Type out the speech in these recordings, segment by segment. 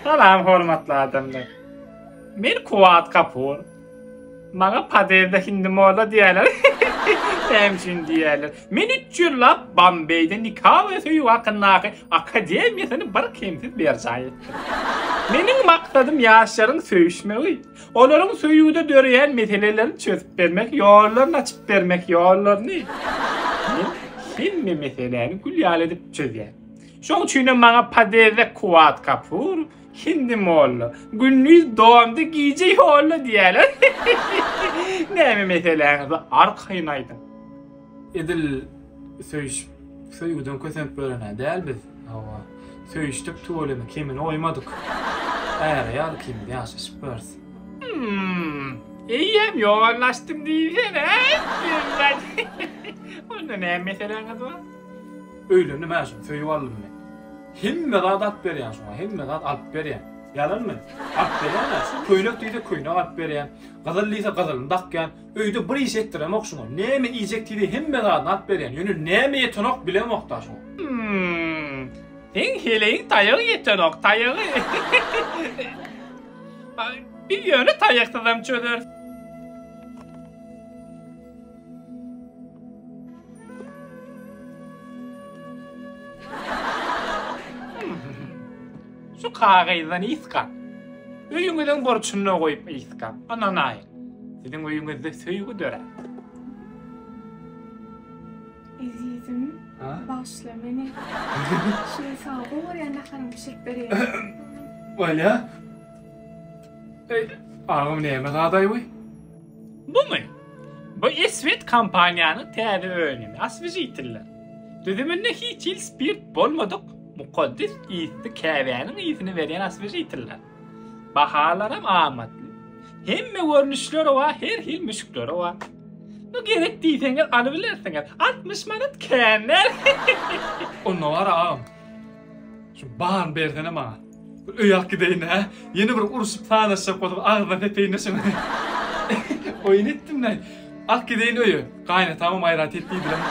Salam hormatly adamlar. Men Kuwat Kapur. Maňa paderde hindi molla diýerler. Sen üçin diýerler. Men üç ýyllap Bambeýde nika we söýgi hakyndaky akademiýasyny bir kemsiz berjaý etdim. Meniň maksadym ýaşlaryň söýüşmegi, olaryň söýgüde döreýän meselelerini çözüp bermek, ýollaryny açyp bermek, ýollaryny. Men hemme meseläni gül ýaly edip çözýän. Şoň üçinem maňa Padeze Kuwat Kapur, Hindi molla. Gündiz domdy, gije ýolda diýýärler. Näme meseläňizi arkaýyn aýdyň. Edil söýüşip, söýgüden kösenip ýören-ä däl biz. Hawa, söýüşdik tüweleme kemini goýmadyk. Äre ýaly kimiz ýaşaşyp ýörüs. Hum. Eýýäm ýollaşdym diýsene. Onda näme meseläňiz bar? Öýlendim-ä şony, söýüp aldym men. Hemme zat alyp berýän şoňa, hemme zat alyp berýän. Ýalanmy? Alyp berýän-ä. Köýnek diýse köýnek alyp berýän. Gyzyl diýse gyzylyny dakýan. Öýde bir iş etdiremok şoňa. Näme iýjek diýse hemme zadyny alyp berýän. Ýöne näme ýetenok bilemok-da şoňa. Hmmm. Seň heleýiň taýagy ýetenok, taýagy. Biz ýöne taýaksyzam çözeris. Şu kagyzdan iska. Öýüňiziň burçunda goýup iska. Ananaýyn. Siziň öýüňizde söýgi dörär. Ezizim, Ha? bagşla meni. Şu sag bol, ýa naharyňy bişirip berýär. Bolýa. Ey, agam näme zadaý bu? Bumy? Bu Eswed kompaniýanyň täze önümi, oswežitiller. Düzüminde hiç hili spirt bolmadyk mukaddes ysly käbäniň ysyny berýän oswežitiller. Bahalaram amatly. Hemme görnüşleri bar, her hil müşkleri bar. Bu gerek diýseňiz alybilersiňiz. 60 manat känler. Onda bar agam. Şu baryny bersene maňa. Öýäk gideýin hä? Ýene bir urşup sazlaşjak bolup agzyna sepeýin-de şuny. Oýun etdim-le. Ak gideýin öýe. Gaýynatamam aýrat et diýdiler.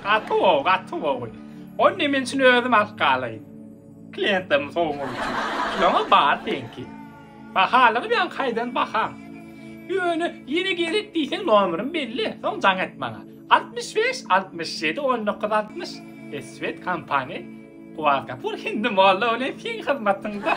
Gaty gowy, gaty gowy. Onda men şuny özüm alyp galaýyn. Kliýentlerimi sowmak üçin. Kiloňa bar seňki. Bahalygy bilen haýdan bahaň. Ýöne ýene gerek diýseň nomerym belli, soň jaň et maňa. Altmyş bäş, altmyş ýedi, on dokuz, altmyş. Eswet kompaniýa Kuwatgapur hindi molla welin siň hyzmatyňda.